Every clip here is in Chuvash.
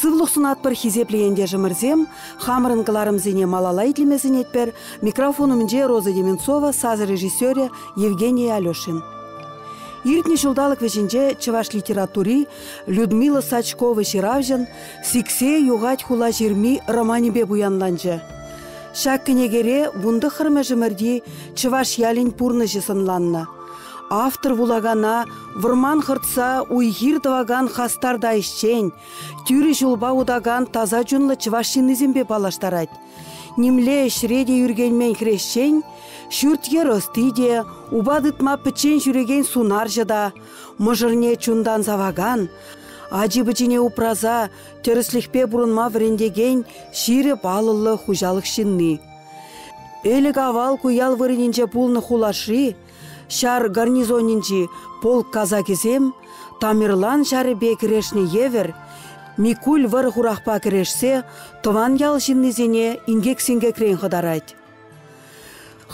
Сывлӑх сунатпӑр хисеплӗ ентешӗмӗрсем! Хамӑрӑн кӑларӑмсене малалла итлеме сӗнетпӗр. Микрофон умӗнче Роза Деменцова, сасӑ режиссерӗ Евгений Алешин. Иртнӗ ҫулталӑк вӗҫӗнче чӑваш литератури Людмила Сачкова ҫыравҫӑн «Сиксе юхать хула ҫырми» романӗпе пуянланчӗ. Ҫак кӗнекере вун тӑххӑрмӗшӗмӗрти чӑваш ялӗн пурнӑҫӗ сӑнланнӑ. Автор вулакана вӑрман хӑртса уй-хир тӑвакан хастар та ӗҫчен, тӳрӗ ҫулпа утакан таса чунлӑ чӑваш ҫыннисемпе паллаштарать. Нимле ӗҫре те ӳркенмен хресчен, ҫурт-йӗр ӑсти те, упа тытма пӗччен ҫӳрекен сунарҫӑ та, мӑшӑрне чунтан савакан, ачи-пӑчине упраса тӗрӗслӗхпе пурӑнма вӗрентекен ҫирӗп алӑллӑ хуҫалӑх ҫынни. Ӗлӗк-авал ку ял вырӑнӗнче пулнӑ хулашри ҫар гарнизонӗнчи полк казакӗсем Тамерлан ҫарӗпе кӗрешнӗ евӗр Микуль вӑрӑ-хурахпа кӗрешсе тӑван ял ҫыннисене инкек-синкекрен хӑтарать.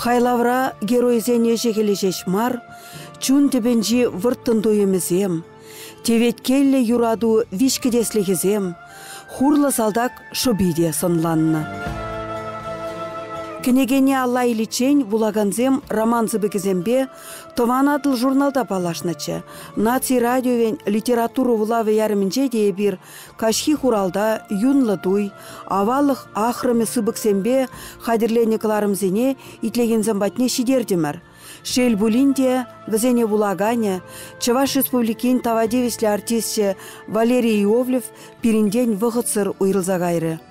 Хайлавра геройсен ӗҫӗ-хӗлӗ ҫеҫ мар, чун тӗпӗнчи вӑрттӑн туйӑмӗсем, теветкеллӗ юрату виҫкӗтеслӗхӗсем, хурлӑ салтак шӑпи те сӑнланнӑ. Кӗнекене алла иличчен вулакансем роман сыпӑкӗсемпе Тӑван Атӑл журналта паллашнӑччӗ. Наци радиовен литература вулавӗ ярӑмӗнче те эпир Каҫхи хуралта юнлӑ туй, аваллӑх ахрӑмӗ сыпӑксемпе хатӗрленӗ кӑларӑмсене итлекенсем патне ҫитертӗмӗр. Шел пулин те, вӗсене вулаканӗ, Чӑваш Республикин тава тивӗҫлӗ артисчӗ Валерий Иовлев пирӗнтен вӑхӑтсӑр уйрӑлса кайрӗ.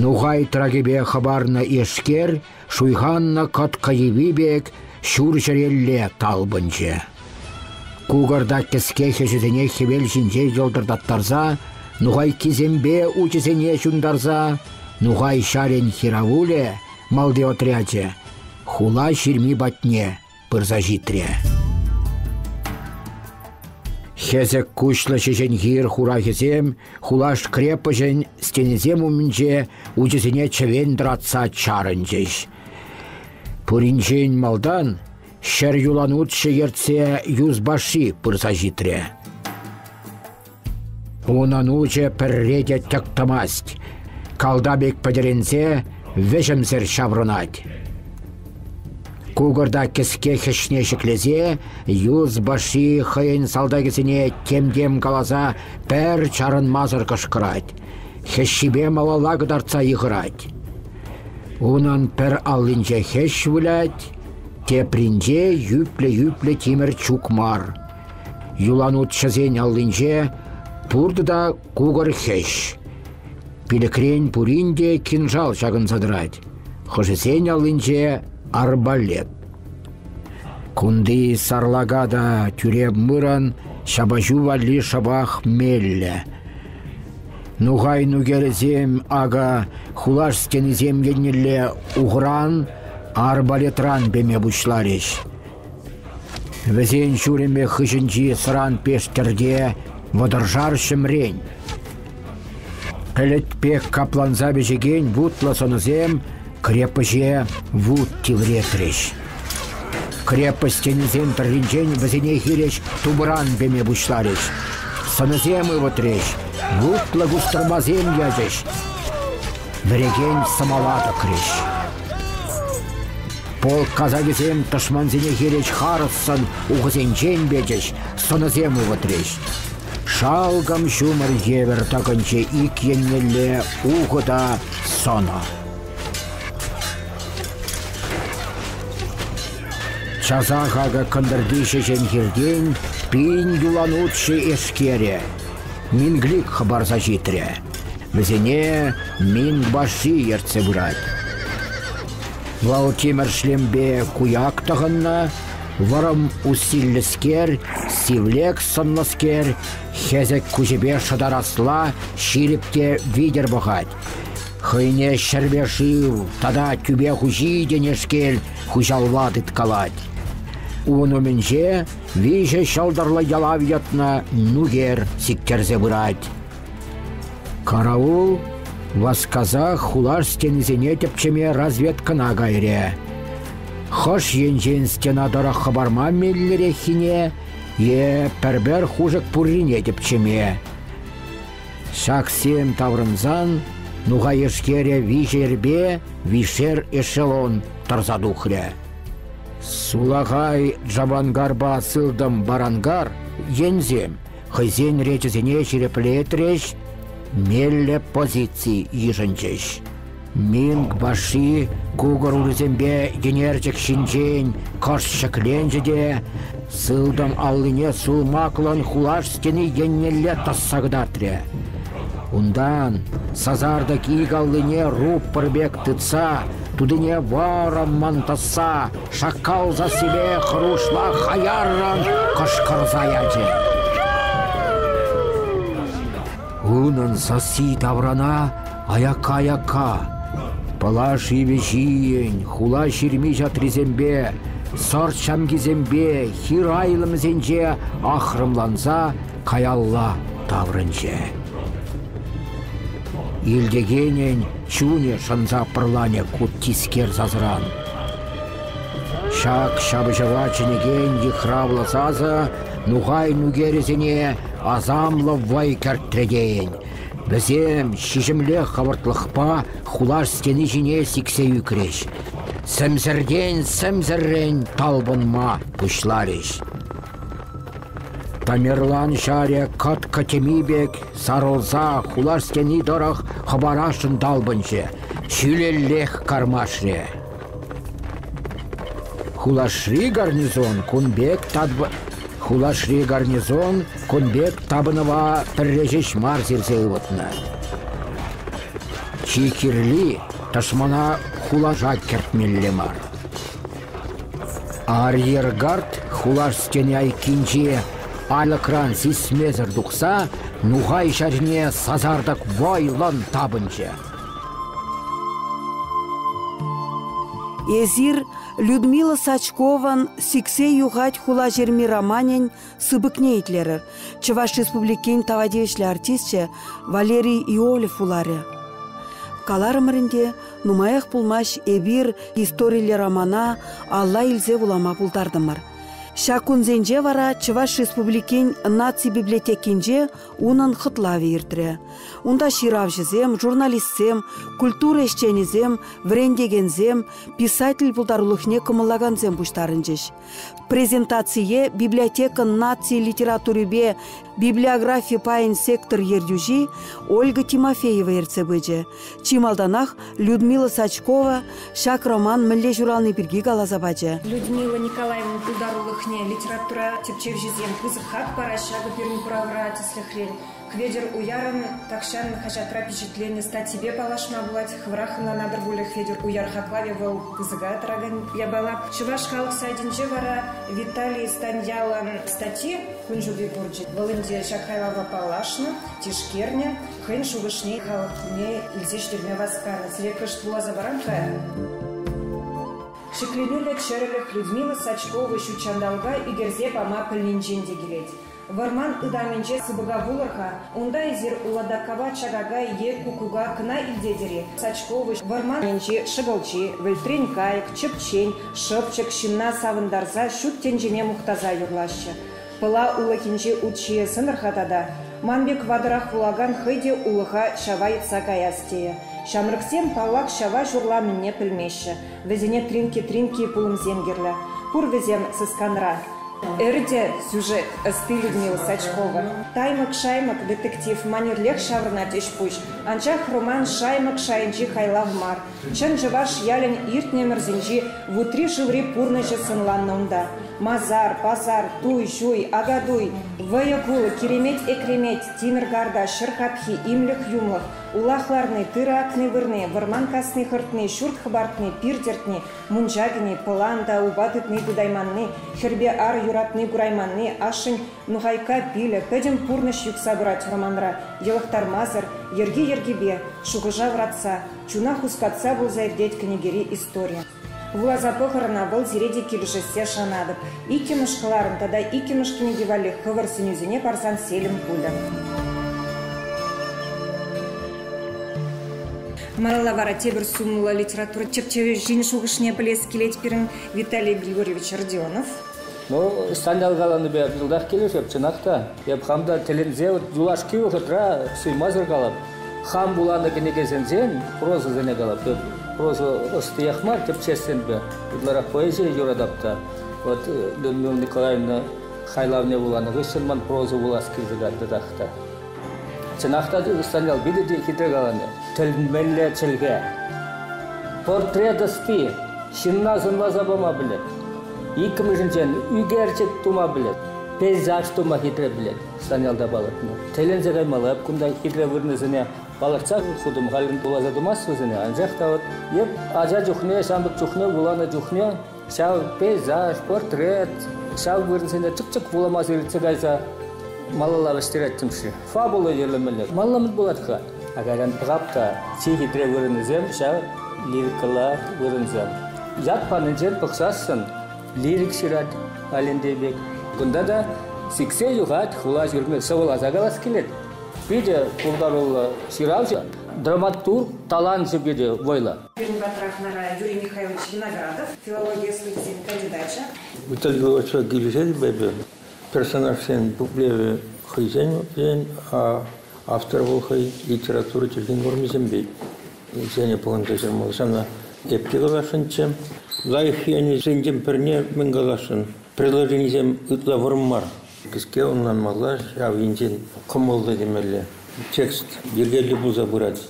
Нухай тракӗпе хӑпарнӑ эшкер шуйханнӑ кӑткӑ йӑви пек ҫур чӗрелле талпӑнчӗ. Кукӑрта кӗске хӗҫӗсене хӗвел ҫинче йӑлтӑртаттарса, нухайккисемпе учӗсене ҫунтарса, нухай ҫарӗн хиравулӗ, малти отрячӗ, хула ҫырми патне пырса ҫитрӗ. Хӗсӗк куҫлӑ ҫеҫенхир хурахӗсем хулаш крепоҫӗн стенисем умӗнче учӗсене чӗвен тӑратса чарӑнчӗҫ. Пуринчен малтан ҫӗр юланутҫӑ ертсе юсбаши пырса ҫитрӗ. Унӑн учӗ пӗрре те тӗк тӑмасть, калта пек пӗтӗрӗнсе вӗҫӗмсӗр ҫаврӑнать. Кукӑрта кӗске хӗҫне ҫӗклесе юс баши хӑйӗн салтакӗсене тем-тем каласа пӗр чарӑнмасӑр кӑшкӑрать, хӗҫҫипе малалла кӑтартса йыхӑрать. Унӑн пӗр аллинче хӗҫ вылять, тепринче йӳплӗ-йӳплӗ тимӗр чук мар. Юланутҫӑсен аллинче пуртӑ та кукӑр хӗҫ. Пилӗкрен пурин те кинжал ҫакӑнса тӑрать. Хӑшӗсен аллинче арбалет. Кунти сарлака та тӳре мырӑн ҫапаҫу валли шӑпах меллӗ. Нухай нукерӗсем ака хулаш стенисем еннелле ухран, арбалетран пеме пуҫларӗҫ. Вӗсен ҫурӑмӗ хыҫӗнчи тӑран пестӗрте вӑтӑршар ҫӗмрен. Пӗлӗт пек капланса пӗҫекен вутлӑ сӑнӑсем крепоҫе вут тивретрӗҫ. Крепость тенисен тӑрринчен вӗсене хирӗҫ тупӑран пеме пуҫларӗҫ. Сӑнӑсем ывӑтрӗҫ, вутлӑ кустӑрмасем ячӗҫ. Вӗрекен сӑмала тӑкрӗҫ. Полк казакӗсем тӑшмансене хирӗҫ харӑссӑн ухӑсенчен печӗҫ, сӑнӑсем ывӑтрӗҫ. Шалкӑм ҫумӑр евӗр тӑкӑнчӗ ик еннелле ухӑ та сӑнӑ. Часа хакӗ кӑнтӑрти ҫеҫен хиртен пин юланутҫӑ эскере, Минглик хӑпарса ҫитрӗ. Вӗсене Минбаши ертсе пырать. Валтимӗр шлемпе куяк тӑхӑннӑ, вӑрӑм усиллӗскер, сивлек сӑнлӑскер, хӗсӗк куҫӗпе шӑтарасла ҫирӗп те витӗр пӑхать. Хӑйне ҫӗрпе шыв тата тӳпе хуҫи тенешкел хуҫалла тыткалать. Ун умӗнче виҫӗ ҫӑлтӑрлӑ ялав йӑтнӑ нукер сиктерсе пырать. Караул васкасах хулаш стенисене тӗпчеме разведкӑна кайрӗ. Хӑш енчен стена тӑрӑх хӑпарма меллӗреххине е пӗр-пӗр хушӑк пуррине тӗпчеме. Ҫаксем таврӑнсан нухайешкере виҫерпе вишер эшелон тӑрса тухрӗ. Сулахай Джабангарпа сылтӑм барангар енсем хӑйсен речӗсене ҫирӗплетрӗҫ, меллӗ позици йышӑнчӗҫ. Минг баши кукӑр урисемпе йӗнерчӗк ҫинчен кӑшт ҫӗкленчӗ те сылтӑм аллине сулмаклӑн хулаш стени еннелле тӑсса кӑтартрӗ. Унтан, сасартӑк ик аллине руппӑр пек тытса, тутине вӑрӑммӑн тӑсса, шаккал сассипе хӑрушла хаяррӑн кӑшкӑрса ячӗ. Унӑн сасси таврана аякка-аякка, пӑлаш йывӑҫийӗн хула ҫырми ҫатрисемпе, сӑрт ҫамкисемпе хир айлӑмӗсенче ахрӑмланса каялла таврӑнчӗ. Илтекенӗн чунӗ шӑнса пӑрланӗ ку тискер сасран. Ҫак ҫапӑҫӑва чӗнекен йыхравлӑ сасӑ нухай нукерӗсене асамлӑ вӑй кӗртрӗ тейӗн. Вӗсем ҫиҫӗмле хӑвӑртлӑхпа хулаш стени ҫине сиксе ӳкрӗҫ. Сӗмсӗртен сӗмсӗррӗн талпӑнма пуҫларӗҫ. Тамерлан ҫарӗ кӑткӑ тӗми пек сарӑлса хула стени тӑрӑх хӑпарасшӑн талпӑнчӗ, ҫӳлеллех кармашрӗ. Хулашри гарнизон кун пек тапӑнӑва пӗрре ҫеҫ мар сирсе ывӑтнӑ. Чи кирли тӑшмана хулаша кӗртмелле мар. Арьергард хулаш стени айккинчи алӑкран сисмесӗр тухса нухай ҫарне сасартӑк вӑйлӑн тапӑнчӗ. Эсир Людмила Сачкован «Сиксе юхать хулаҫырми» романӗн сыпӑкне итлерӗр. Чӑваш Республикин тава тивӗҫлӗ артисчӗ Валерий Иолев вуларӗ. Каларӑмӑр ӗнтӗ, нумаях пулмасть эпир историлле романа алла илсе вулама пултартӑмӑр. Ҫак кунсенче вара Чӑваш Республикин наци библиотекинче унӑн хӑтлавӗ иртрӗ. Унта ҫыравҫӑсем, журналистсем, культура ӗҫченӗсем, вӗрентекенсем, писатель пултарулӑхне кӑмӑллакансем пуҫтарӑнчӗҫ. Презентацие библиотекӑн наци литературипе библиографи пайӗн сектор ертӳҫи Ольга Тимофеева ертсе пычӗ. Чи малтанах Людмила Сачкова ҫак роман мӗнле ҫурални пирки каласа пачӗ. Людмила Николаевна пултарулӑхне литература тӗпчевҫисем пысӑк хак параҫҫӗ ҫакӑ пирӗн куравра тӗслӗхрен. Хветӗр Уярӑн тахҫан хаҫатра пичетленнӗ статйипе паллашма пулать. Хӑвӑрах ӑнланатӑр пулӗ Хветӗр Уяр хаклавӗ вӑл пысӑка тӑракан япала. Чӑваш халӑх сайтӗнче вара Виталий Станьялӑн статйи кун ҫути курчӗ. Вӑл ӗнтӗ ҫак хайлава паллашнӑ, тишкернӗ, хӑйӗн шухӑшне халӑхне илсе ҫитерме васканӑ. Сире кӑшт вуласа парам-ха. Ҫӗкленӳллӗ чӗрӗлӗх Людмила Сачкова ҫут ҫанталӑка ӳкерсе пама пӗлнинчен те килет. Вӑрман ытамӗнче сыпӑка пулӑр-ха, унта эсир ладокапа чакака е куккука кӑна илтетӗр-и? Сачковӑҫ вӑрман енчи шӑкӑлчи, вӗлтрен кайӑк, чӗпчен, шӑпчӑк ҫынна савӑнтарса ҫут тӗнчене мухтаса юрлаҫҫӗ. Пӑла улӑхӗнчи ут ҫийӗ сӑнӑр-ха тата. Ман пек ватӑрах вулакан хӑй те улӑха ҫава йӑтса каяс тейӗ. Ҫамрӑксем, паллах, ҫава ҫурламӗнне пӗлмеҫҫӗ. Вӗсене Тринки-Тринки пулӑмсем кирлӗ. Пур вӗсем сысканра. Эрте сюжет, ӑсти Людмила Сачкова. Таймӑк-шаймӑк детектив манерлех ҫаврӑнать ӗҫ-пуҫ, анчах роман Шаймӑк шайӗнчи хайлав мар. Чӑн чӑваш ялӗн иртнӗ ӗмӗрсенчи вутри-шыври пурнӑҫӗ сӑнланнӑ унта. Масар, пасар, туй-ҫуй, акатуй, вӑйӑ-кулӑ, киремет-экремет, тимӗр карта, ҫӗр капхи, имлӗх-юмлӑх, Улах ларни, тырӑ акни вырни, вӑрман касни хӑртни, ҫурт хӑпартни, пир тӗртни, мунча кӗни, пӑлан та упа тытни пытайманни, хӗрпе ар юратни курайманни, ашшӗн нухайкка пилӗ, пӗтӗм пурнӑҫ юхса пырать вӑрманра йӑлӑхтармасӑр, йӗрки-йӗркипе, шухӑша вӑратса, чуна хускатса пулса иртет кӗнекери истори. Вуласа пӑхӑр ӑна, вӑл сире те килӗшессе шанатӑп. Иккӗмӗш кӑларӑм тата иккӗмӗш кӗнеке валли хӑвӑр сӗнӳсене парсан селӗм пулӗ. Малалла вара тепӗр сумлӑ литература чӗпчевӗҫин шухӑшне пӗлес килет пирӗн Виталий Григорьевич Родионов. Ну, ҫанталӑк каланипе пысӑках килӗшеп, чӑнах та. Эп хам та тӗлӗнсе юлашки вӑхӑтра суймасӑр калап, хам вуланӑ кӗнекесенсен прозӑсене калап. Эп проза ӑстиях мар, тӗпчессинпе ытларах поэзие юратап та. Вот Людмила Николаевна хайлавне вуланӑ хыҫҫӑн ман проза вулас килсе кантӑрах та. Чӑнах та Станьял питӗ те хитре каланӑ. Тӗлӗнмелле чӗлхе. Портрет ӑсти ҫынна сӑнласа пама пӗлет. Иккӗмӗшӗнчен ӳкерчӗк тума пӗлет. Пейзаж тума хитре пӗлет Станьялта палӑртнӑ. Тӗленсе каймалла, эп кунта хитре вырӑнӗсене палӑртса хутӑм. Халӗ пуласа тумасть вӗсене, анчах та вот эп ача чухне, ҫамрӑк чухне, вуланӑ чухне ҫав пейзаж, портрет, ҫав вырӑнсене чӑк-чӑк вулама иртсе кайса малалла вӗҫтереттӗм-ши? Фабула йӗрлемелле. Малламӑн пулать-ха. Кайран тӑкак та чи хитре вырӑнӗсем ҫав лирикӑлла вырӑнсем. Ят панинчен пӑхсассӑн лирик ҫырать Алентей пек. Кунта та сиксе юхать, хула ҫурми сӑвӑласа калас килет. Питӗ пултаруллӑ ҫыравҫӑ, драматург, таланчӗ те вӑйлӑ. Пирӗн патра хӑнара Юрий Михайлович Виноградов, филологи ӑслисен кандидачӗ. Итальянла очерк килӗшетӗп эпӗ. Персонажсен пуплевӗ хӑйсен ен, автор вӑл хӑй литература чӗлхин нормисемпе ӗҫленӗ пулӑнса ҫырмалла. Ҫавна эп те каласшӑнччӗ. Лайӑх енӗсенчен пӗрне мӗн каласшӑн, предложенисем ытла вӑрӑм мар. Кӗске ӑнланмалла, ҫав енчен кӑмӑллӑ темелле. Текст йӗркеллӗ пулса пырать.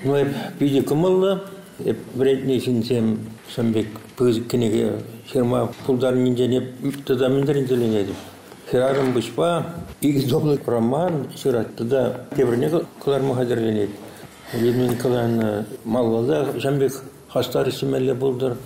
Ну, эп питӗ кӑмӑллӑ. Эп вӗрентнӗ ҫынсем ҫын пек пысӑк кӗнеке ҫырма пултарнинчен эп тата мӗн тӗлӗнетӗп. Хӗрарӑм пуҫпа икӗ топлик роман ҫырать тата тепӗрне кӑларма хатӗрленет. Людмила Николаевна малалла ҫын пек Хастар ӗҫлемелле пултӑр.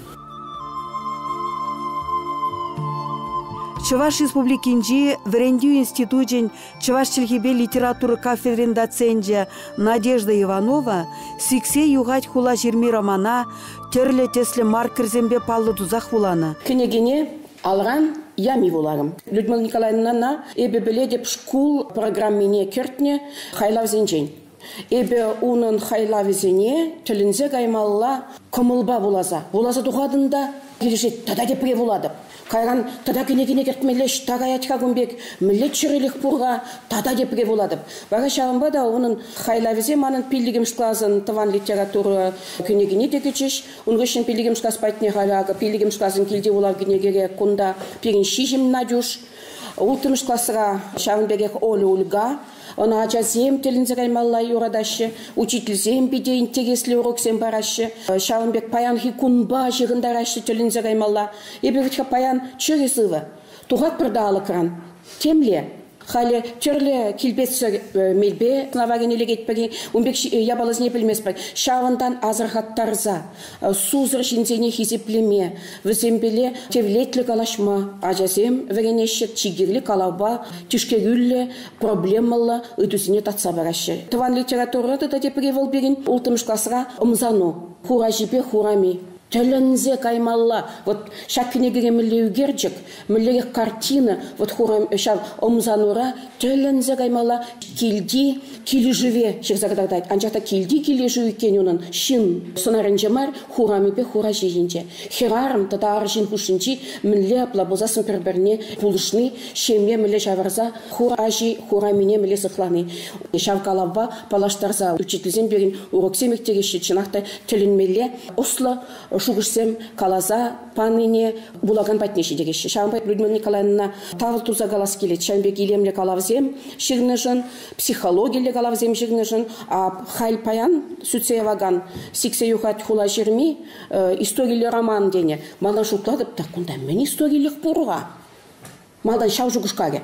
Чӑваш Республикинчи вӗрентӳ институчӗн чӑваш чӗлхипе литература кафедрин доценчӗ Надежда Иванова сиксе юхать хулаҫырми романа тӗрлӗ тӗслӗ маркерсемпе паллӑ тусах вуланӑ. Кӗнекене алран ями вуларӑм. Людмила Николаевнана эпӗ пӗлетӗп шкул программине кӗртнӗ хайлавсенчен. Эпӗ унӑн хайлавӗсене тӗлӗнсе каймалла кӑмӑлпа вуласа, вуласа тухатӑн та килӗшет, тата тепре вулатӑп. Кайран тата кӗнекене кӗртмелле ӑҫта каять-ха кун пек, мӗнле чӗрӗлӗх пур-ха, тата тепре вулатӑп. Вара ҫавӑнпа та унӑн хайлавӗсем манӑн пиллӗкмӗш класӑн тӑван литература кӗнекине те кӗчӗҫ. Ун хыҫҫӑн пиллӗкмӗш класс патне халӗ акӑ пиллӗкмӗш класӑн килти вулав кӗнекере кунта пирӗн ҫиҫӗм Натюш, улттӑмӗш класра ҫавӑн пекех Оля Ульга, Ӑна ачасем тӗлӗнсе каймалла юратаҫҫӗ, учительсем питӗ интереслӗ уроксем параҫҫӗ. Ҫавӑн пек паянхи кунпа ҫыхӑнтараҫҫӗ тӗлӗнсе каймалла. Эпӗ вӗт-ха паян чӗрӗ сывӑ, тухатпӑр та алӑкран. Темле, халӗ тӗрлӗ килпетсӗр э, мелпе сӑнава кӗни лекетпӗр-и, ун пек япаласене пӗлместпӗр. Ҫавӑнтан асӑрхаттарса, сусӑр ҫынсене хисеплеме, вӗсемпеле тевлетлӗ калаҫма ачасем вӗренеҫҫӗ, чи кирли калавпа тишкерӳллӗ, проблемӑллӑ ыйтусене татса параҫҫӗ. Тӑван литература тата тепри вӑл пирӗн улттӑмӗш класра ӑмсану, хураҫипе хурами. Тӗлӗнсе каймалла. Вот ҫак кӗнекере мӗнле ӳкерчӗк, Мӗнлерех картина вот хурам ҫав ӑмсанура тӗлӗнсе каймалла килти килӗшӗве ҫырса кӑтартать. Анчах та килти килӗшӳ иккен унӑн ҫын сӑнарӗнче мар, хурамӗпе хура ҫийӗнче. Хӗрарӑм тата арҫын хушшинчи мӗнле апла пулсассӑн пӗр-пӗрне пулӑшни, ҫемье мӗнле ҫавӑрса хур аҫи хурамине мӗнле сыхлани. Ҫав калавпа паллаштарса учительсем пирӗн уроксем ирттереҫҫӗ, чӑнах та тӗлӗнмелле ӑслӑ шухӑшсем каласа панине вулакан патне ҫитӗкеҫҫӗ. Ҫавӑнпа Людмила Николаевна тав турса калас килет. Ҫавӑн пек илемлӗ калавсем ҫырнӑшӑн, психологиллӗ калавсем ҫырнӑшӑн. Халь паян сӳтсе явакан сиксе юхать хула ҫырми историллӗ роман тенӗ. Мана шутлатӑп та, кунта мӗн историллӗх пур-ха? Малтан ҫав шухӑшкалӗ.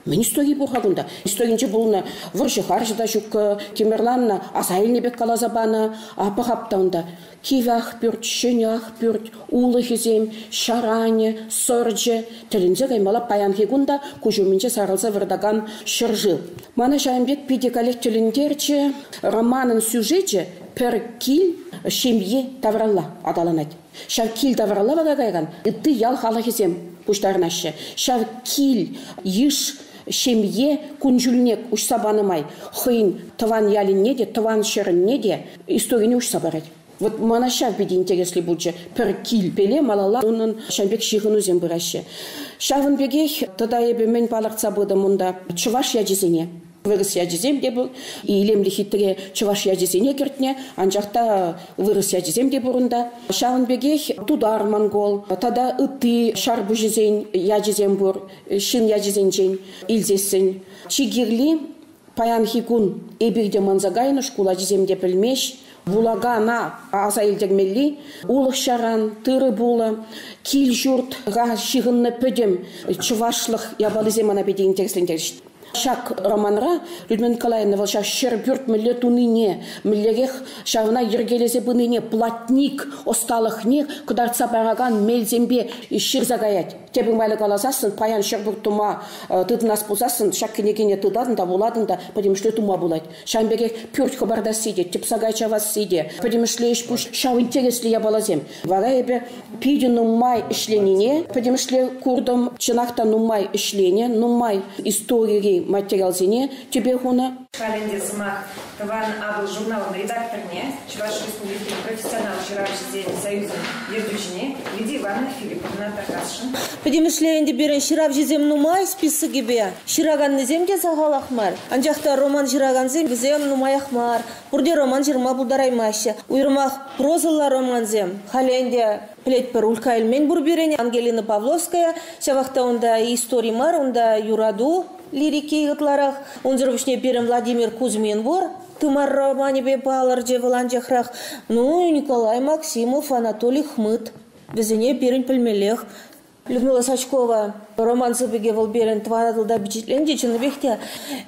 Мӗн истоки пур-ха кунта? Истокинче пулнӑ вӑрҫӑ-харҫӑ та ҫуккӑ, тимӗрланнӑ, аса илнӗ пек каласа панӑ. Аппа хап та унта. Кивӗ Ахпӳрт, Ҫӗнӗ Ахпӳрт, улӑхӗсем, ҫаранӗ, сӑрчӗ. Тӗлӗнсе каймалла паянхи кун та куҫ умӗнче сарӑлса выртакан ҫӗршыв. Мана ҫавӑн пек питӗ каллех тӗлӗнтерчӗ романӑн сюжечӗ Пӗр кил, ҫемье тавралла аталанать. Ҫав кил тавралла вара каякан ытти ял халӑхӗсем пуҫтарӑнаҫҫӗ. Ҫав кил йыш ҫемье кун-ҫулне уҫса панӑ май хӑйӗн тӑван ялӗнне те, тӑван ҫӗрӗнне те историне уҫса парать. Вот мана ҫав питӗ интересли пулчӗ. Пӗр килпеле малалла унӑн ҫавӑн пек ҫыхӑнусем пыраҫҫӗ. Ҫавӑн пекех тата эпӗ мӗн палӑртса пытӑм унта чӑваш ячӗсене. Вырӑс ячӗсем те пур. Илемлӗ хитре чӑваш ячӗсене кӗртнӗ, анчах та вырӑс ячӗсем те пур унта. Ҫавӑн пекех тутар, монгол тата ытти ҫарпуҫӗсен ячӗсем пур, ҫын ячӗсенчен илсессӗн. Чи кирли паянхи кун эпир те манса кайнӑ шкул ачисем те пӗлмест. Вулакана аса илтермелли улӑх-ҫаран, тырӑ-пулӑ, кил-ҫуртра ҫыхӑннӑ пӗтӗм чӑвашлӑх япалисем мана питӗ интереслентерҫҫӗ. Ҫак романра Людмила Николаевна вӑл ҫав ҫӗр пӳрт мӗнле тунине, мӗнлерех ҫавна йӗркелесе пынине, платник ӑсталӑхне кӑтартса паракан мелсемпе ҫырса каять. Тепӗр майлӑ каласассӑн, паян ҫӗр пӳрт тума тытӑнас пулсассӑн ҫак кӗнекене тытатӑн та вулатӑн та пӗтӗмӗшле тума пулать. Ҫавӑн пекех пӳрт хӑпартасси те, тӗпсака чавасси те, пӗтӗмӗшле ӗҫ-пуҫ ҫав интереслӗ япаласем. Вара эпӗ питӗ нумай ӗҫленине пӗтӗмӗшле куртӑм. Чӑнах та нумай ӗҫленӗ, нумай историри материалсене тӗпе хунӑ. Халь ӗнтӗ сӑмах тӑван Атӑл журналӑн редакторне, Чӑваш Республикин профессионал ҫыравҫисен союзӗн ертӳҫине Лидия Ивановна Филипповна такасшӑн. Пӗтӗмӗшле ӗнтӗ пирӗн ҫыравҫӑсем нумай списокӗпе ҫыраканнисем те сахалах мар. Анчах та роман ҫыракансем вӗсем нумаях мар. Пурте роман ҫырма пултараймаҫҫӗ. Уйрӑмах прозӑлла романсем. Халӗ ӗнтӗ пӗлетпӗр, Улька Эльмен пур пирӗн, Ангелина Павловская. Ҫавах та унта истори мар, унта юрату лирики ытларах. Унсӑр пуҫне пирӗн Владимир Кузьмин пур. тымар романӗпе палӑрчӗ вӑл анчахрах. Ну, Николай Максимов, Анатолий Хмыт. Вӗсене пирӗн пӗлмеллех. Людмила Сачкова роман сыпӑкӗ вӑл пирӗн тӑван Атӑлта пичетленчӗ чӑннипех те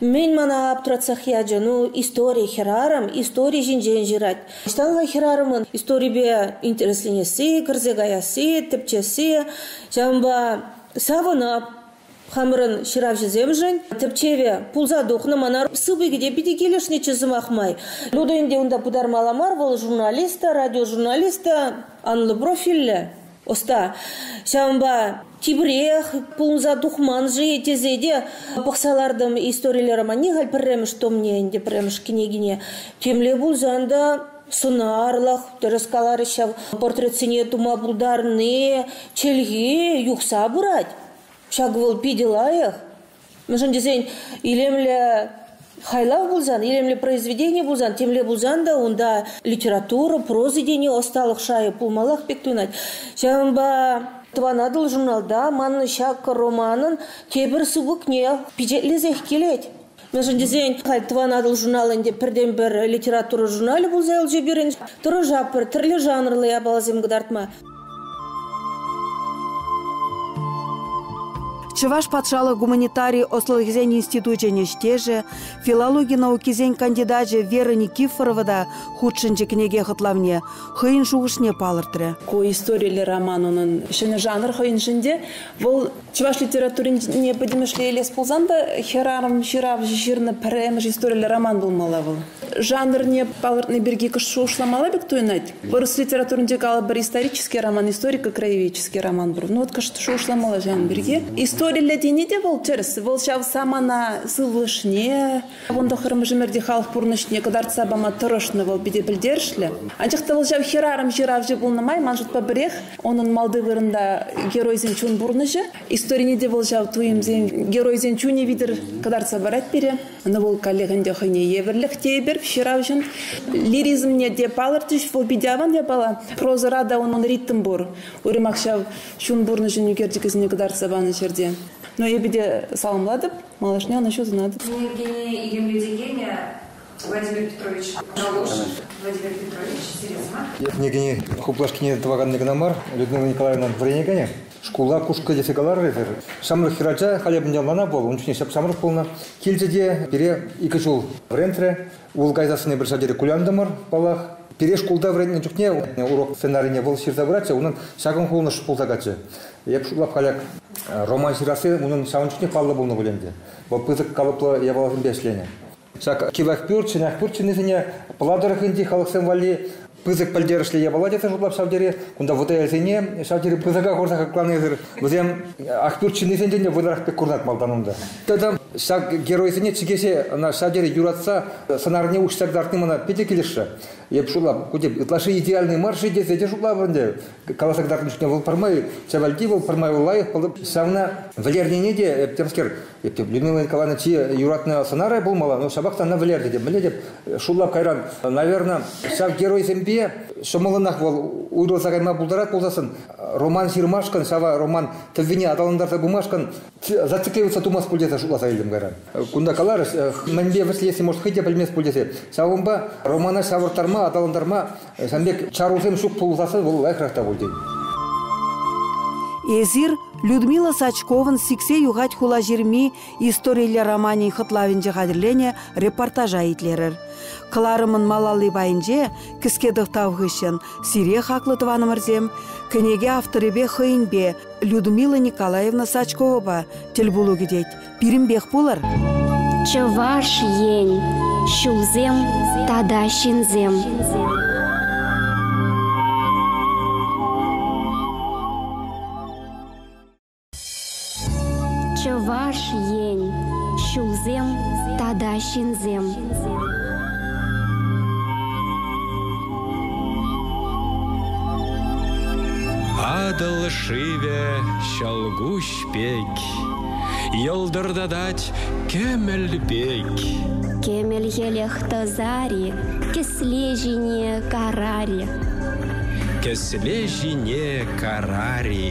мӗн мана аптратсах ячӗ. Ну, истори хӗрарӑм истори ҫинчен ҫырать. Ӑҫтан-ха хӗрарӑмӑн историпе интересленесси, кӗрсе каясси, тӗпчесси ҫавӑнпа савӑнап Хамӑрӑн ҫыравҫӑсемшӗн тӗпчеве пулса тухнӑ. Мана сыпӑкӗ те питӗ килӗшнӗччӗ сӑмах май. Ну та ӗнтӗ унта пытармалла мар. Вӑл журналист та, радиожурналист та, анлӑ профильлӗ ӑста. Ҫавӑнпа тепрех пулӑнса тухман-ши тесе те пӑхса лартӑм историйлӗ романне халь пӗрремӗш томне ӗнтӗ пӗрремӗш кӗнекине. Темле пулсан та сӑнарлӑх, тӗрӗс каларӗҫ ҫав, портретсене тума пултарни чӗлхи юхса пырать. Ҫак вӑл питӗ лайӑх, мӗншӗн тесен илемлӗ хайлав пулсан, илемлӗ произведени пулсан, темле пулсан та унта литература, проза тени ӑсталӑх шайӗ пулмаллах пек туйӑнать. Ҫавӑнпа Тӑван Атӑл журналта манӑн ҫак романӑн тепӗр сыпӑкне пичетлесех килет. Мӗншӗн тесен халь Тӑван Атӑл журналӗн те пӗртен-пӗр литература журналӗ пулса юлчӗ пирӗн. Тӑрӑшап пӗр тӗрлӗ жанрлӑ япаласем кӑтартма. Чӑваш патшалӑх гуманитари ӑслӑлӑхӗсен институчӗн ӗҫтешӗ, филологи наукисен кандидачӗ Вера Никифорова та хутшӑнчӗ кӗнеке хӑтлавне, хӑйӗн шухӑшне палӑртрӗ. Ку историллӗ роман унӑн ҫӗнӗ жанр хӑйӗншӗн те. Вӑл Чӑваш литературине пӗтӗмӗшле илес пулсан та хӗрарӑм ҫыравҫӑ ҫырнӑ пӗрремӗш историллӗ роман пулмалла вӑл. Жанрне палӑртни пирки шухӑшламалла пек туйӑнать. Вырӑс литературинче калӑпӑр исторический роман, историко-краеведческий роман пур. Ну вот шухӑшламалла ҫавӑн пирки. Историллӗ тени те вӑл тӗрӗс. Вӑл ҫав самана сывлӑшне, Вун тӑххӑрмӗш ӗмӗрти халӑх пурнӑҫне кӑтартса пама тӑрӑшнӑ вӑл питӗ пӗлтерӗшлӗ. Анчах та вӑл ҫав хӗрарӑм ҫыравҫӑ пулнӑ май ман шутпа пӗрех унӑн малти вырӑнта геройсен чун пурнӑҫӗ. Историне те вӑл ҫав туйӑмсен геройсен чунӗ витӗр кӑтартса парать пире. Ӑна вӑл каллех ӗнтӗ хӑйне евӗрлӗх тейӗпӗр ҫыравҫӑн. Лиризмне те палӑртӗҫ, вӑл питӗ аван япала. Прозӑра та унӑн ритм пур. Уйрӑмах ҫав чун пурнӑҫӗн ӳкерчӗкӗсене кӑтартса панӑ ҫӗрте. Но эпӗ те саламлатӑп Малашне ӑна ҫутатӑп. Ну, Евгений икемлесе кӗнӗ Владимир Петрович Галош. Владимир Петрович, серьезно? Кӗнекене хуплашкине тӑваканни кӑна мар, Людмила Николаевнан вӗренекенӗ шкула кушкӑ тесе каларӗсӗр. Ҫамрӑк хӗрача халӗ мӗнле ӑнлана вӑл, ун чухне ҫап-ҫамрӑк пулнӑ. Килчӗ те пире икӗ ҫул вӗрентрӗ. Ул кайсассине пӗр ҫӗртери кулянтӑмӑр, паллах. Пире шкулта вӗреннӗ чухне урок сценарине вӑл ҫырса пыратчӗ, унӑн ҫакӑн кулӑнӑш пулса каччӑ. Эп шутлап каляк, роман ҫырасси унӑн ҫавӑн чухне паллӑ пулнӑ пуль ӗнтӗ. Вӑл пысӑк калӑплӑ япаласемпе ӗҫленӗ. Ҫак чылай пӳрт, чӑнах пӳрт ҫыннисене Пӑла тӑрӑхӗнчи халӑхсем валли пысӑк пӗлтерӗшлӗ япала тесе шутлап ҫав тери. Кунта вӑтаелсене ҫав тери пысӑка хурса хакланисӗр вӗсем Ахпӳрт ҫыннисенчен те вӑйлӑрах пек курӑнать малтан унта. Тата ҫак геройсене чӗкеҫе ӑна ҫав тери юратса сӑнарне уҫса кӑтартни мана питӗ килӗшрӗ. Эп шутлап, ку тӗп ытлашши идеальный мар-ши тесе те шутлап ӗнтӗ. каласа кӑтартнӑ чухне вӑл пӗрмай Чавальти вӑл пӗрмай лайӑх пулӑп. Ҫавна вӗлернине те, э, темскер, э, Людмила Николаевна чи юратнӑ сӑнарай пулмалла, но ҫапах та ӑна вӗлернӗ те. Мӗнле теп, шуллап кайран, наверное, ҫав геройсемпе ҫӑмӑллӑнах вӑл уйрӑлса кайма пултарать пулсассӑн, роман ҫырмашкӑн, ҫава роман тӗввине аталантарса пымашкӑн зацикливаться тумасть пуль тесе шутласа илтӗм кайран. Кунта каларӗҫ, э, мӗнпе вӗҫлесси, может, хӑй те пӗлмест пуль тесе. Ҫавӑнпа романа ҫавӑрттарма, аталантарма Сан пек чарусем ҫук пулсассӑн вӑл лайӑхрах та пуль тен. Эсир Людмила Сачковӑн сиксе юхать хулаҫырми историлле романӗн хӑтлавӗнче хатӗрленӗ репортажа итлерӗр. Кӑларӑмӑн малалли пайӗнче кӗске тӑхтав хыҫҫӑн сире хаклӑ тӑванӑмӑрсем кӗнеке авторӗпе хӑйӗнпе Людмила Николаевна Сачковӑпа тӗл пулу кӗтет. Пирӗнпех пулӑр. Чӑваш Ен, ҫулсем тата ҫынсем. Чӑваш Ен, ҫулсем тата ҫынсем. Атӑл шывӗ, ҫӑлкуҫ пек. Йӑлтӑртатать кӗмӗл пек. Кӗмӗлхелӗх тӑсари, кӗсле ҫине карари. Кӗсле ҫине карари.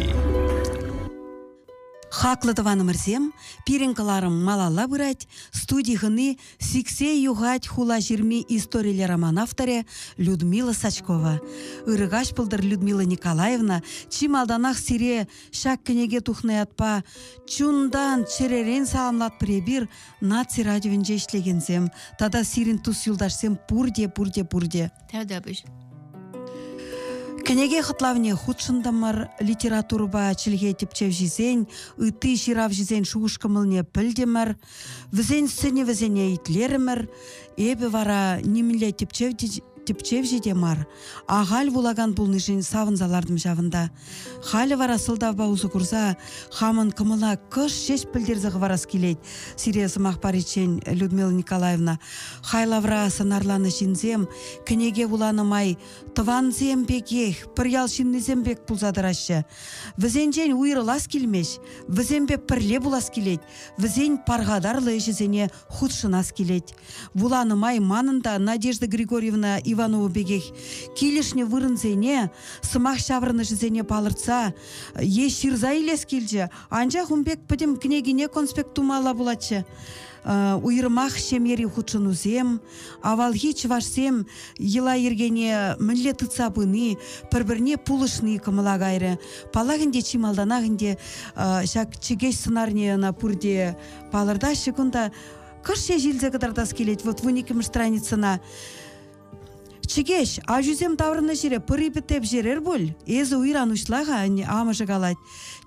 Хаклӑ тӑванӑмӑрсем, пирӗн кӑларӑм малалла пырать. Студи хыни сиксе юхать хула ҫырми историлле роман авторӗ Людмила Сачкова. Ырӑ каҫ пултӑр, Людмила Николаевна. Чи малтанах сире Ҫак кӗнеке тухнӑ ятпа чунтан, чӗререн саламлатпӑр эпир наци радиовӗнче ӗҫлекенсем тата сирӗн тус-юлташсем пурте, пурте, пурте. Тавтапуҫ. Кӗнеке хӑтлавне хутшӑнтӑмӑр литературӑпа чӗлхе тӗпчевҫисен, ытти ҫыравҫӑсен шухӑш-кӑмӑлне пӗлтӗмӗр. Вӗсен сӗнӗвӗсене итлерӗмӗр. Эпӗ вара нимӗнле тӗпчевҫӗ те мар. Ахаль вулакан пулнишӗн савӑнса лартӑм ҫавӑнта. Халӗ вара сӑлтавпа усӑ курса хамӑн кӑмӑла кӑш ҫеҫ пӗлтерсе хӑварас килет сире сӑмах париччен Людмила Николаевна. Хайлавра сӑнарланӑ ҫынсем кӗнеке вуланӑ май тӑвансем пекех, пӗр ял ҫыннисем пек пулса тӑраҫҫӗ. Вӗсенчен уйрӑлас килмест, вӗсемпе пӗрле пулас килет. вӗсен пархатарлӑ ӗҫӗсене хутшӑнас килет. Вуланӑ май манӑн та Надежда Григорьевна Иванова пекех килӗшнӗ вырӑнсене, сӑмах ҫаврӑнӑшӗсене палӑртса е ҫырса илес килчӗ, анчах ун пек пӗтӗм кӗнекине конспект тумалла пулатчӗ. Уйрӑмах ҫемьери хутшӑнусем, Авалхи чӑвашсем йӑла-йӗркене мӗнле тытса пыни, пӗр-пӗрне пулӑшни кӑмӑла кайрӗ. Паллах ӗнтӗ чи малтанах ӗнтӗ ҫак чӗкеҫ сӑнарне ӑна пурте палӑртаҫҫӗ кунта. Кӑш ҫеҫ илсе кӑтартас килет вот вун иккӗмӗш страницӑна. Чӗкеҫ, аҫусем таврӑннӑ ҫӗре пӑри пӗтеп ҫерер пуль. Эсӗ уйран уҫла-ха, амӑшӗ калать.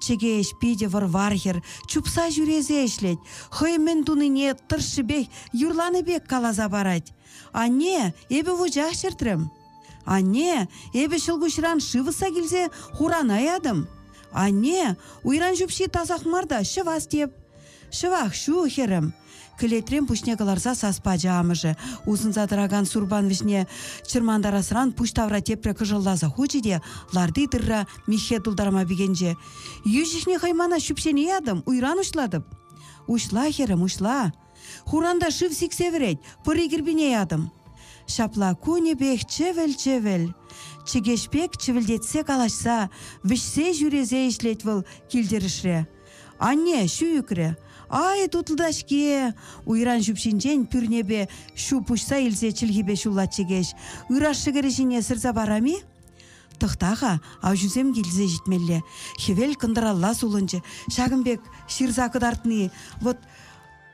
Чӗке ӗҫ питӗ вӑр-вар хӗр, чупса ҫӳресе ӗҫлет, хӑй мӗн тунине тӑршшӗпех юрланӑ пек каласа парать. Анне, эпӗ вучах чӗртрӗм. Анне, эпӗ ҫӑлкуҫран шывӑсса килсе хурана ятӑм. Анне, уйран ҫупҫи тасах мар та ҫӑвас теп. Ҫӑвах ҫул, хӗрӗм, кӗлетрен пуҫне кӑларса сас пачӗ амӑшӗ. Усӑнса тӑракан сурпан вӗҫне чӑрмантарасран пуҫ тавра тепре кӑшӑлласа хучӗ те ларти тырра миххе тултарма пикенчӗ. Йӳҫӗхне хӑй мана ҫӳпҫене ятӑм, уйран уҫлатӑп. Уҫла, хӗрӗм, уҫла. Хуранта шыв сиксе вӗрет, пӑри кӗрпине ятӑм. Ҫапла кунӗпех чӗвӗл-чӗвӗл, чӗкеҫ пек чӗвӗлтетсе калаҫса, вӗҫсе ҫӳресе ӗҫлет вӑл кил-тӗрӗшре. Анне ҫу ӳкрӗ. Ай, тутлӑ-ҫке! Уйран ҫупҫинчен пӳрнепе ҫу пуҫса илсе чӗлхипе ҫуллать чӗкеҫ. Ыраш шӗкӗрӗ ҫине сырса парам-и? Тӑхта-ха, авҫусем килсе ҫитмелле. Хӗвел кӑнтӑралла сулӑнчӗ. Ҫакӑн пек ҫырса кӑтартни, вӑт,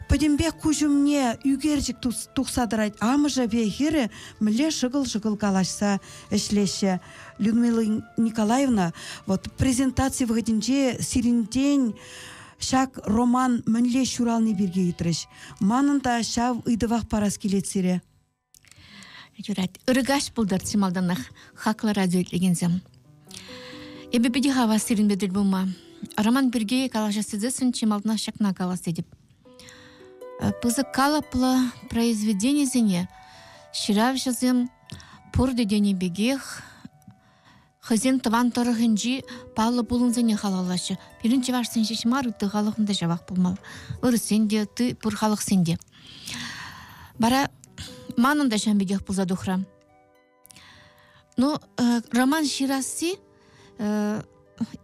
Пӗтӗмпех куҫ умне ӳкерчӗк тухса тӑрать. Амӑшӗ пе хӗрӗ мӗнле шӑкӑл-шӑкӑл калаҫса ӗҫлеҫҫӗ. Людмила Николаевна, вот презентаци вӑхӑтӗнче сирӗнтен ҫак роман мӗнле ҫурални пирки ыйтрӗҫ. Манӑн та ҫав ыйтӑвах парас килет сире. юрать ыргаш пултӑр чи малтанах хаклӑ радио итлекенсем эпӗ питӗ хавас сирӗнпе тӗл пулма роман пирки калаҫас тесессӗн чи малтанах ҫакна калас тетӗп э, пысӑк калӑплӑ произведенисене ҫыравҫӑсем пурте тенӗ пекех Хӑйсен тӑван тӑрӑхӗнчи паллӑ пулӑмсене халаллаҫҫӗ. Пирӗн чӑвашсен ҫеҫ мар, ытти халӑхӑн та ҫавах пулмалла. Вырӑссен те, ытти пур халӑхсен те. Вара манӑн та ҫавӑн пекех пулса тухрӗ. Ну, роман ҫырасси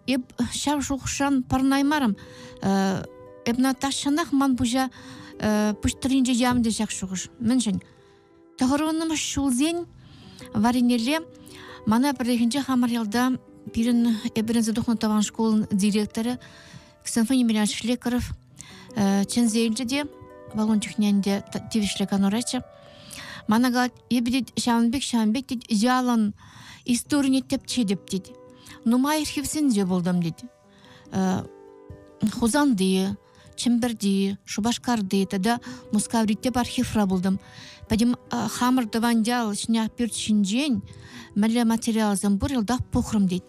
эп ҫав шухӑшран пӑрӑнаймарӑм. Эп Наташӑнах ман пуҫа пуҫ тӑрринче явнӑ ҫак шухӑш. Мӗншӗн? Тӑхӑрвуннӑмӗш ҫулсен варринелле мана пӗррехинче хамӑр ялта пирӗн эпӗренсе тухнӑ тӑван шкулӑн директорӗ Ксенфоний Емельянович Шлекаров чӗнсе илчӗ те валун чухне ӗнтӗ тивӗҫлӗ канураччӗ мана калать эпӗ тет ҫавӑн пек ҫавӑн пек тет ялӑн историне тӗпчетӗп тет нумай хӗвсенсе пултӑм тет Хусанти, Чӗмпӗрти, Шупашкарти тата Мускаврите архивра пултӑм. Пӗтӗм хамӑр тӑван ял Шняхпӳрт ҫинчен мӗнле материалсем пур йӑлтах пухрӑм тет.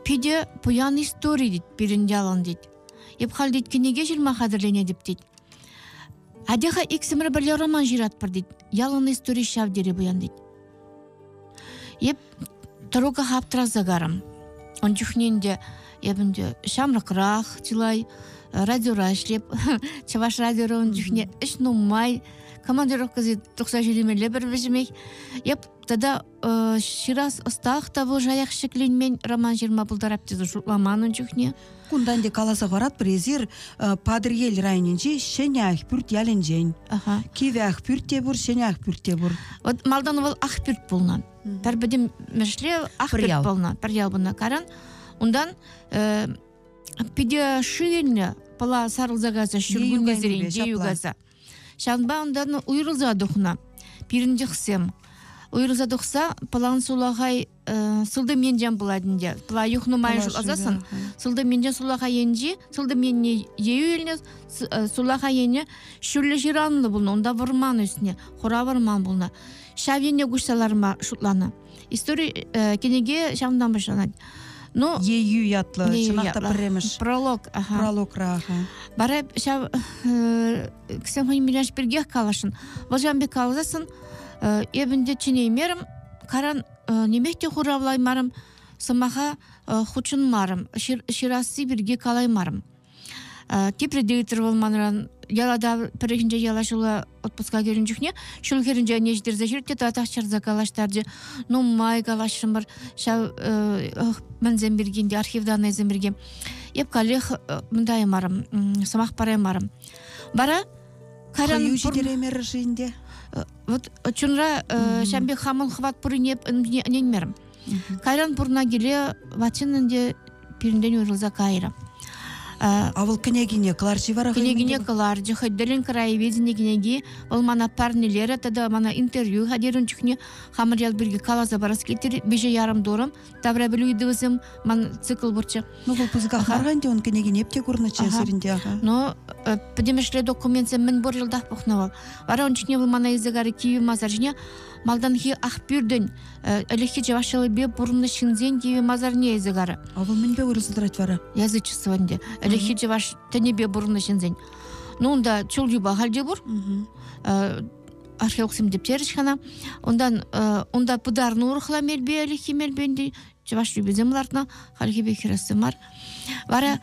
Питӗ пуян истори тет пирӗн ялӑн тет. Эп халь тет кӗнеке ҫырма хатӗрленетӗп тет. Атеха иксӗмӗр пӗрле роман ҫыратпӑр тет. Ялӑн истори ҫав тери пуян тет. Эп тӑруках аптӑраса карӑм. Ун чухне ӗнтӗ эп ӗнтӗ ҫамрӑкрах чылай радиора ӗҫлеп. Чӑваш радиора ун чухне ӗҫ нумай. Командировкӑсем тухса ҫӳремелле пӗр вӗҫӗмех. Эп тата ҫырас ӑстах та пулӑшаях ҫӗкленмен роман ҫырма пултарап тесе шутламан ун чухне. Кунтан те каласа паратпӑр, эсир Патӑрьел районӗнчи Ҫӗнӗ Ахпӳрт ялӗнчен. Кивӗ Ахпӳрт те пур, Ҫӗнӗ Ахпӳрт те пур. Вот малтан вӑл Ахпӳрт пулнӑ. Пӗр пӗтӗм Мӗшре Ахпӳрт пулнӑ, пӗр ял пулнӑ каран. Унтан э, питӗ шийлнӗ пыла сарӑлса кайса Ҫуркуннесерен югаса. Ҫавӑнпа унтан уйрӑлса тухнӑ пирӗн чӑхсем. Уйрӑлса тухса пӑлан сулахай э, сылтӑм енчен пулать ӗнтӗ. Пӑла юхнӑ май шутласассӑн сылтӑм енчен сулахай енчи сылтӑм енне ейӳ илнӗ э, сулахай енне ҫӳллӗ ҫыранлӑ пулнӑ. Унта вӑрман ӳснӗ, хура вӑрман пулнӑ. Ҫав енне куҫса ларма шутланӑ. истори кӗнеке ҫавӑнтан пуҫланать. Ну, Ейӳ ятлӑ, чӑнах та пӗрремӗш пролог. Прологра. Бара ҫав ксен хӑйӗн миляш пиркех каласшӑн. Вӑл ҫавӑн пек каласассӑн эпӗн те чӗнеймерӗм, каран нимех те хуравлаймарӑм, сӑмаха хутшӑнмарӑм, ҫырасси пирки калаймарӑм. тепре те ыйтрӑр вӑл манран ялата пӗррехинче яла ҫула отпуска кӗрен чухне ҫул хӗрринче ӗне ҫитерсе ҫӳрет те татах чарса калаҫтарчӗ нумай калаҫрӑмӑр ҫав мӗнсем пирки те архив даннӑйсем пирки эп каллех мындаймарӑм сӑмах параймарӑм вара кайран хӑю ҫитереймерӗр-ши ӗнтӗ вот чунра ҫам пек хамӑн хӑват пуррине ӗненмерӗм Кайран пурна киле ватчиннен те пирӗнтен уйрӑлса кайрӗ. А вӑл кӗнекине кӑларчи вара? Кӗнекине кӑларчӗ, хӑй тӗллӗн краеведени кӗнеки. Вӑл мана парнелерӗ тата мана интервью хатӗрӗн чухне хамӑр ял пирки каласа парас килтрӗ. Виҫӗ ярӑм турӑм, таврапӗлӳ ыйтӑвӗсем ман цикл пурччӗ. Ну, вӑл пысӑках мар ӗнтӗ, ун кӗнекине эп те курнӑччӗ сирӗнте. Ну, Но э, пӗтӗмӗшле документсем мӗн пур йӑлтах пухнӑ вӑл. Вара ун чухне вӑл мана илсе карӗ кивӗ масар ҫине. Малтанхи Ахпӳртӗн ӗлӗкхи чӑваш ҫӑлипе пурӑннӑ ҫынсен тиви масарне илсе карӗ. Авӑл мӗнпе вырӑсла тӑрать вара? Язычество ӗнтӗ. Ӗлӗкхи чӑваш тӗнӗпе пурӑннӑ ҫынсен. Ну унта чул юпа халь те пур. археологсем тептерӗҫ хана. Унтан унта пытарнӑ урӑхла мелпе ӗлӗкхи мелпе чӑваш тӳписем лартнӑ хальхи пек хӗрессе мар вара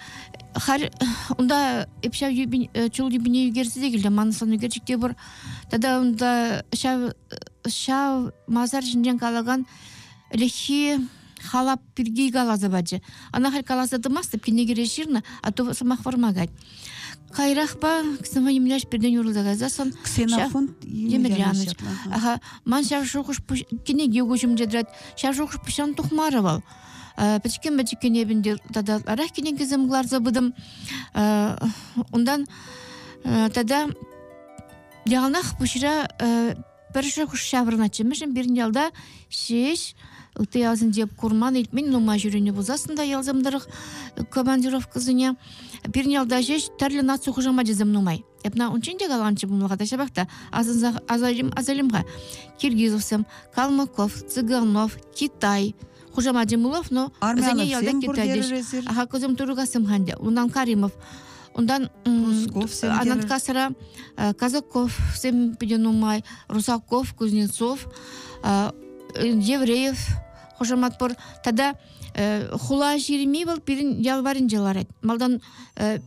халь унта ҫав чул тӳпине ӳкерсе те килтӗм манӑслан ӳкерчӗк те пур тата унта ҫав ҫав масар ҫинчен калакан ӗлӗкхи халап пирки каласа пачӗ ана халь каласа тӑмастӑп кине кӗре ҫырнӑ а то сӑмах вӑрман кать Кайрахпа ксенофон нимлеш пиртен юрлса кайсассӑн ксенофон Емельянович. Аха, ман ҫав шухӑш кӗнеке куҫӑмча тӑрать. Ҫав шухӑш пуҫан тухмарӗ вӑл. Пӗчкен-пӗчкен эпӗнте тата ытларах кӗнекесем кӑларса пытӑм. Унтан тата яланах пуҫра Пӗршӗ хӑш ҫаврӑнатчӗ, мӗншӗн пирӗн ялта ҫеҫ ытти ялсенче курман, илтмен нумай ҫӳренӗ пулсассӑн та ялсем тӑрӑх командировкӑсене пирӗн ялта ҫеҫ тӗрлӗ наци хушамачӗсем нумай. Эпна унччен те каланчӗ пулмалла та ҫапах та асӑнса асалим асалим-ха. Киргизовсем, Калмыков, Цыганов, Китай, хушамачӗ хушамачӗ мулов но вӗсене ялта килтерчӗҫ ахакусем турукассым ханде унан каримов унтан анаткасра казаков-сем питӗ нумай русаков кузнецов евреев хушамат пур тата хула ҫырми вӑл пирӗн ял варӗнче ларать малтан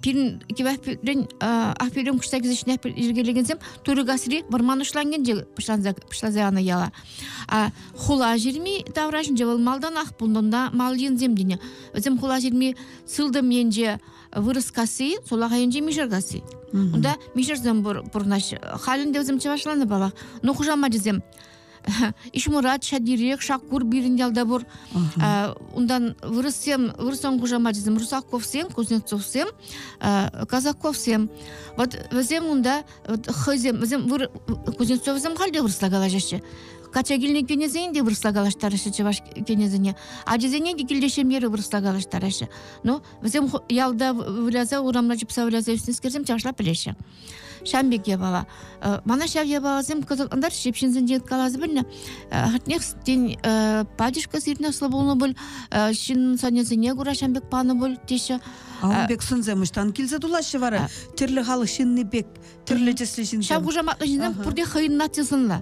пирӗн кивәпӳрен ахпӳрен куҫса килсе ҫинех йӗркелекенсем турӑ касри вӑрман уҫлангенче пуҫланса пуҫланса янӑ яла хула ҫырми таврашӗнче вӑл малтанах пулнӑ мал енсем тенӗ вӗсем хула ҫырми сылтӑм енче вырӑскасси сулах айӗнче мишеркасси унта мишерсем пурӑнаҫҫӗ халь ӗнтӗ вӗсем чӑвашланӑ палах ну хушамачӗсем Ишмурат ҫадирех Шаккур пирӗн ялта пур. Унтан вырӑссем, вырӑссен хушамачӗсем Русаковсем, Кузнецовсем, Казаковсем. Вот вӗсем унта хӑйсем, вӗсем Кузнецовсем халь те вырӑсла калаҫаҫҫӗ. Кача килнӗ кенесен те вырӑсла калаҫтараҫҫӗ чӑваш кенесене, ачасене те килте ҫемьере вырӑсла калаҫтараҫҫӗ. Ну, вӗсем ялта выляса, урамра чупса выляса ӳснӗскерсем чашла пӗлеҫҫӗ. Ҫам пек япала. Мана ҫав япаласем кӑсӑклантарчӗ, ҫеп ҫынсенчен каласа пӗлнӗ. Хӑтнех тен, пачӑшкӑ сирне слӑ пулнӑ пуль, ҫын сӑнӗсене кура ҫам пек панӑ пуль, теҫҫӗ. Ун пек сӑнсем ӑҫтан килсе тулаҫҫӗ вара? Тӗрлӗ халӑх ҫынни пек, тӗрлӗ тӗслӗ ҫынсем. Ҫав хушаматлӑ ҫынсем пурте хӑйӗн наци сӑнлӑ.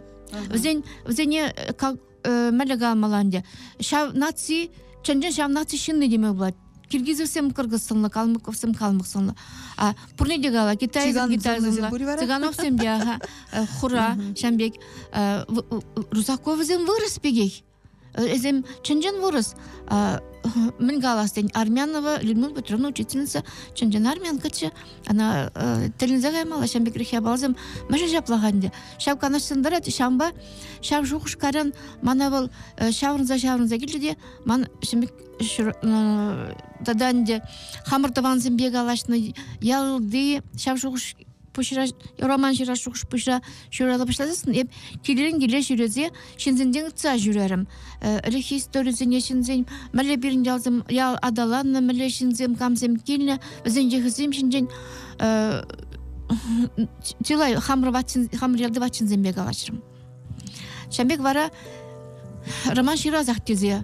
Вӗсен, вӗсене как мӗлӗка маланде ҫав наци чӑн-чӑн ҫав наци ҫынни теме пулать киргизовсем кыргызсынлӑ калмыковсем калмыксынлӑ а пурне те кала китайсем китайсынлӑ цыгановсем те аха хура ҫам пек русаковсем вырӑс пекех эсем чӑн-чӑн вырӑс мӗн калас тен армянова Людмила Петровна учительница чӑн-чӑн армянкаччӗ Ана тӗлӗнсе каймалла ҫын пекрех япалсем мӗшӗн ҫаплах ӗнтӗ ҫав канӑҫсем тӑрать ҫавӑнпа ҫав шухӑшкаран мана вӑл ҫаврӑнса ҫаврӑнса килчӗ те ман ҫын пек тата ӗнтӗ хамӑр тӑвансемпе калаҫнӑ ялти ҫав шухӑш пуҫра юраман ҫырас шухӑш пуҫра ҫуралса пуҫласассӑн эп килрен киле ҫӳресе ҫынсенчен ытса ҫӳрерӗм. Ӗлӗкхи историсене ҫынсен мӗнле пирӗн ялсем ял аталаннӑ, мӗнле ҫынсем камсем килнӗ, вӗсен йӑхӗсем ҫинчен чылай хамӑр ватчен, хамӑр ялти ватченсемпе калаҫрӑм. Ҫан пек вара роман ҫырласах тесе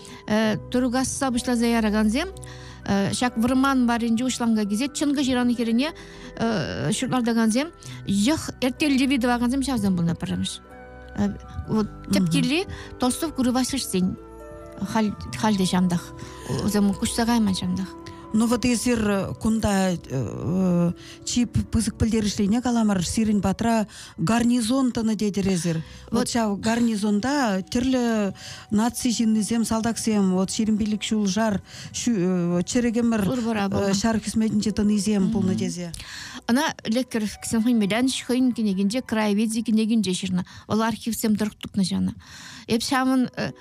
тургасса пуҫласа яракансем ҫак вӑрман варринче уҫланка килсе чӑнкӑ ҫыран хӗррине ҫуртартакансем йӑх эртеллипе тӑвакансем ҫавсем пулнӑ пӗрремӗш вот тӗп килри Толстов курывасышсен халь халде ҫантах усем куҫса кайман ҫантах Ну вот эсир э, кунта э, чи пысӑк пӗлтерӗшлине каламар сирӗн патра гарнизон тӑнӑ тетӗр эсир Вот ҫав гарнизонта тӗрлӗ наци ҫыннисем, салтаксем, вот ҫирӗм пилӗк ҫул шар э, чӗрӗк ӗмӗр э, ҫар хӗсметӗнче тӑнисем пулнӑ тесе. Ӑна леккӗр хӑйӗн мелянч хӑйӗн кӗнекинче краеведи кӗнекинче ҫырнӑ. Вӑл архивсем тӑрӑх тупнӑ ҫанӑ. Эп ҫавӑн э,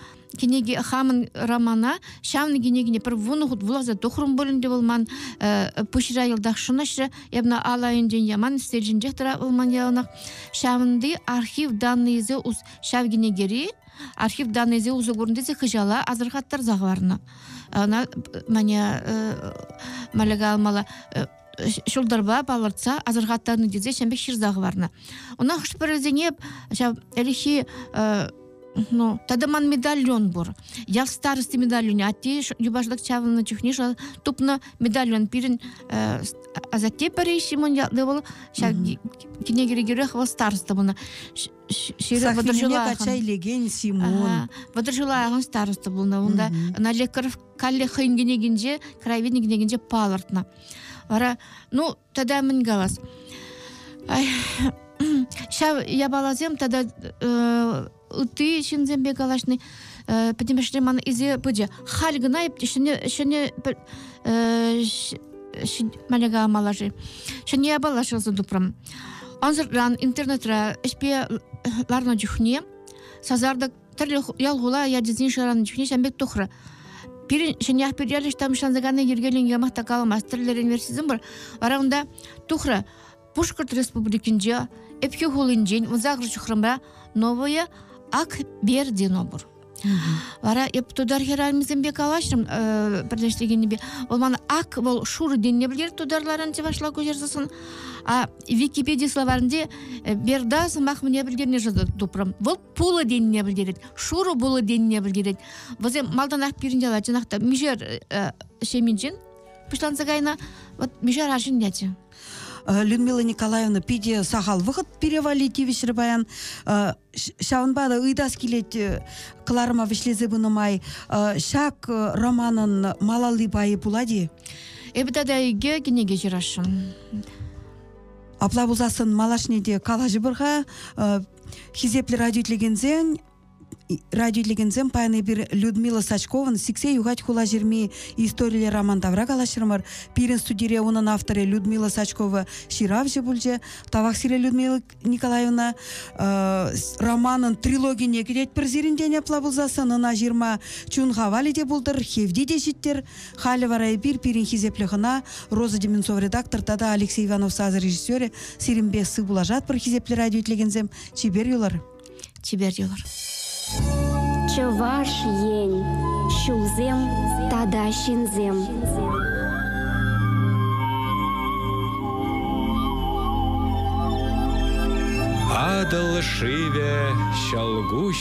кӗнеке хамӑн романа ҫавӑн кӗнекене пӗр вунӑ хут вуласа тухрӑм пулин те вӑл ман пуҫра йӑлтах шӑнӑҫрӗ эпна ал айӗнчен яман стерчӗнчех тӑра вӑл ман яланах ҫавӑнти архив даннӑйӗсем ҫав кӗнекери архив даннӑйӗсем усӑ курнӑ тесе хыҫала асӑрхаттарса хӑварнӑ ӑна мане малика алмала ҫӑлтӑрпа палӑртса асӑрхаттарнӑ тесе ҫын пек ҫырса хӑварнӑ. Ӑна хӑш-пӗрисене ҫав ӗлӗкхи ну, тата ман медальон пур. Ял старости медальоне атте юпашлӑх чавнӑ чухне тупнӑ медальон пирӗн асатте пӗри Ҫимун ятлы вӑл ҫав кӗнекерех вӑл староста пулнӑ ҫирӗп вӑтӑрҫӑлахӑн качча илекен Симон вӑтӑрҫӑлахӑн староста пулнӑ унта ӑна лекаров каллех хӑйӗн кӗнекинче краеведение кӗнекинче палӑртнӑ вара ну тата мӗн калас ҫав япаласем тата э, ытти ҫынсемпе калаҫни э, пӗтӗмӗшле ман изе пычӗ халь кӑна ҫӗнӗ ҫӗнӗ э, маляга малаши ҫӗнӗ япала ҫырса тупрӑм ансӑртран интернетра ӗҫпе ларнӑ чухне сасартӑк тӗрлӗ ял хула ячӗсен шӑранӑ чухне ҫан пек тухрӗ пирӗн ҫӗньях пирӗлӗш тамшӑнса кайнӑ йӗркелӗн ямах та каламасть тӗрлӗ реверсизм пур вара унта тухрӗ пушкӑрт республикинче ӗпхӳ хулинчен вунсакӑр ҫухрӑмра новое ак бердино пур вара эп тутар хӗрарӑмӗсемпе калаҫрӑм пӗрлештеренипе вӑл мана ак вӑл шур денне пӗлер тутарларан чӑвашла куҫарсассӑн а википеди словарӗнче берда сӑмах мне пӗлтернӗ тупрӑм вӑл пулӑ тенине пӗлтерет, шурӑ пулӑ тенине пӗлтерет. Вӗсем малтанах пирӗн яла чӑнах та мишер э, ҫеминчен пуҫланса кайнӑ. Вот мишер арҫын ячӗ. Э, Людмила Николаевна питӗ сахал вӑхӑт пире валли тивӗҫрӗ паян. Э, ҫавӑнпа та ыйтас килет э, кӑларӑма вӗҫлесе пынӑ май. Ҫак романӑн малалли пайӗ пулать-и? Эпӗ тата икӗ кӗнеке ҫырасшӑн. Апла пулсассӑн малашне те калаҫӑпӑр-ха. Хисеплӗ радио илекенсен радио илекенсем паян эпир Людмила Сачкован сиксе юхать хулаҫырми историлле роман тавра калаҫрӑмӑр. Пирӗн студире унӑн авторӗ Людмила Сачкова ҫыравҫӑ пулчӗ. Тавах сире, Людмила Николаевна. Романӑн трилогине кӗтетпӗр сирӗн тен апла пулсассӑн ӑна ҫырма чун хавалӗ те пултӑр, хевти те ҫиттӗр. Халӗ вара эпир пирӗн хисеплӗ хӑна, Роза Дементьев редактор тата Алексей Иванов сасӑ режиссерӗ, сирӗнпе сывпуллашатпӑр, хисеплӗ радио итлекенсем, чипер юлӑр! Чипер юлӑр! Чӑваш Ен, ҫулсем тата ҫынсем. Атӑл шывӗ ҫӑлкуҫ